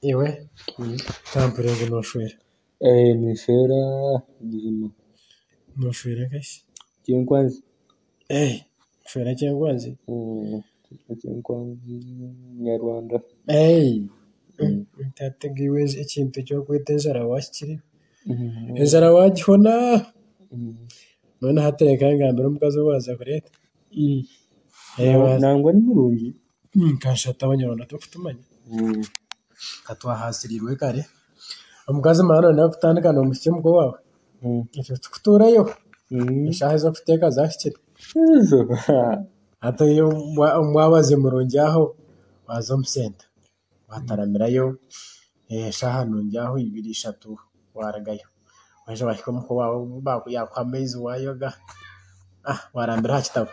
Iwe tampurira ngu noshwera. Nishwera buzima. Noshwera nkashi? Kyenkwanzi. Noshwera kyenkwanzi? Kyenkwanzi nyarwanda. Nkateega iwe ekintu eki orikweta enjara waakihikire. Enjara waagihona. Mbwenu hati reka ngambire omukazi ou waaza kureeta. Nangwa ni murungi. Nkashatu abanyarwanda turikutumanya ka twahasirirwe kare omukazi mara noyenda kutandika nomuhisya omuka owaawe itwe tukutuurayo eshaaha ez'okuteeka zahikire hati oyo wa- wabaze murungi aho waza omu senta wataramirayo eshaaha nungi aho ibiri ishatu warugayo waza wahika omuka owaawe baku- yakuha amaizi wayoga ah warambira aha kitabo.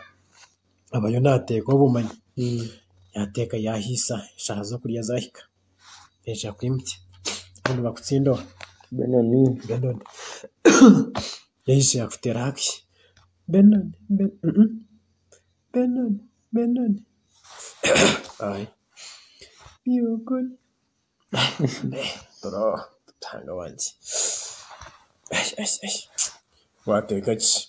abayo nateeka obumanyi yateeka yahaisa eshaaha z'okurya zahika naija kwimukya kandi bakutsindoba Benoni Benoni yaija yakuteera haki Benoni Benoni Benoni ayi Benoni turooba Ruhanga wangye wateeka ki?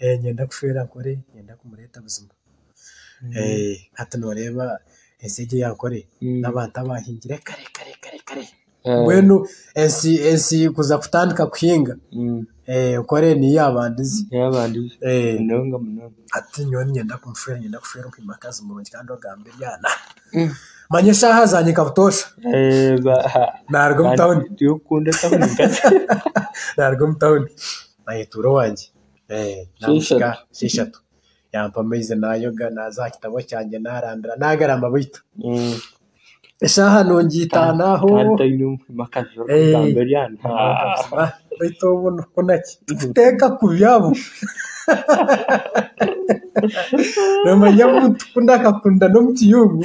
Niinyenda kushwera nkore niinyenda kumureeta buzima. Hati nooreeba ensi egi eya nkore n'abantu abaahingire kare kare kare kare. Mbwenu ensi ensi kuza kutandika kuhinga nkore niyo yaabandize. Hati nyowe niinyenda kumushwera niinyenda kushwera omu omukazi murungi kandi ogamba ebyana. Manya eshaaha zangye nka butoosha naaruga omu tauni. Naaruga omu tauni. ayeetuura owangye naamusika shi ishatu yaampa amaizi naayoga naaza aha kitabo kyangye naarambira naagarama beitu eshaaha nungi itaano aho beitu obu nikukuna ki tikuteeka kubi abu noomanya omuntu ku naakakunda n'omu kiyungu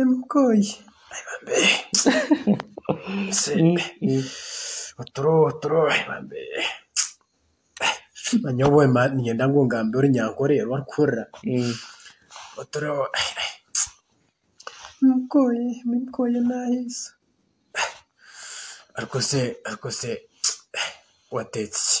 Emikooyi oturo oturo nyowe niinyenda ngu ogambe orunyankore oru orikuhurira oturo emikooyi emikooyi naaheisa arikose arikose wateetsi ki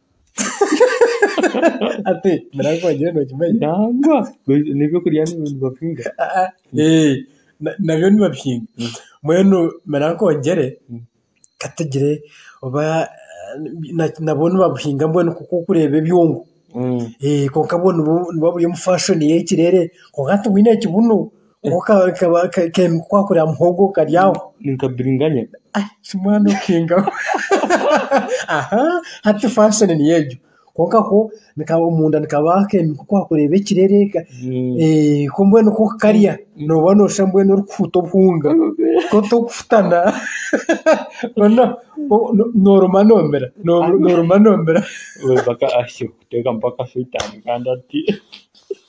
ati mirankwa nyowe nokimanya nangwa Baitu n'eby'okurya ni- nibabihinga Ah, ah, eh, na- nabyo nibabihinga mbwenu mirankwa ongyere katugire oba eh, na- nabwo nibabuhinga mbwenu nk'oku orikureeba ebyongo Mm. Eh, kwonka bwo nibwo nibwo buri omu fashoni y'ekireere kwonka tibuine kibuno Kwakura muhogo okaryaho. Ni nka biringanya. Shi mwana okingaho. Hati faashoni niyo egyo. Kwonka ko nikaba omunda nikabaho ku waakureeba ekirere ku mbwenu ku okukarya nooba nooshusha mbwenu orikufuuta obuhunga ku otarikufutana. Mbwenu nooruma noomira, nooruma noomira.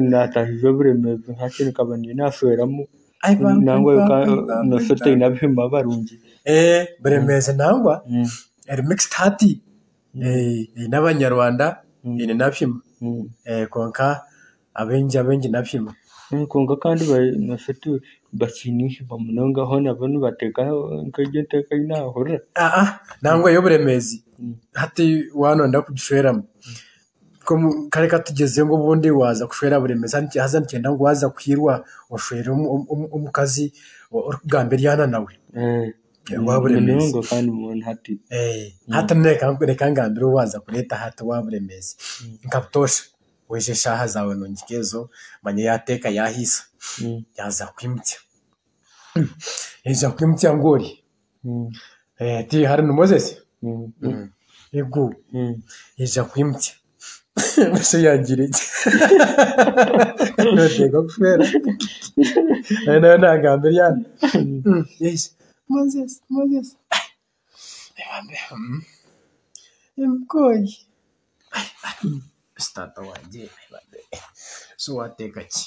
naataahiza oburemeezi hati nkaba ndiyo naashweramu nangwa noshusha oti taine abihima barungi Eh, buremeezi nangwa Mm, eri mixed hati Eh, eine abanyarwanda Mm. eine n'abihima mm. Eh, kwonka abaingi abaingi n'abihima Mm, kwonka kandi ba- noshusha oti bakiine eihima munonga hoona bo nibateekaho nk'egyo enteeka ei naahurira Ah, ah, nangwa y'oburemeezi Mm. hati waanonda kugishweramu Kare katugyezeyo ngu obundi waaza kushwera buremezi haza nikigyenda ngu waaza kwiirwa oshwere omukazi orikugamba ebyana nawe bwa buremezi. Hati reka ngambire ou waaza kureeta hati owa buremezi nka butoosha oije eshaaha zaawe noongika ezo manya yaateeka yaahaisa yaaza kukwimutsya. Yaija kukwimutsya ngu ori? Mm. Eh, tiri harimu mozesi Mm, mm. ego Mm. eija kwimukya nosho yagira eki noteeka kufeera nayo nayo nagamba eryana Mm, eija mozesi mozesi ebambe mm. emukooyi Ai, ai, si taata wangye ebambe so wateeka ki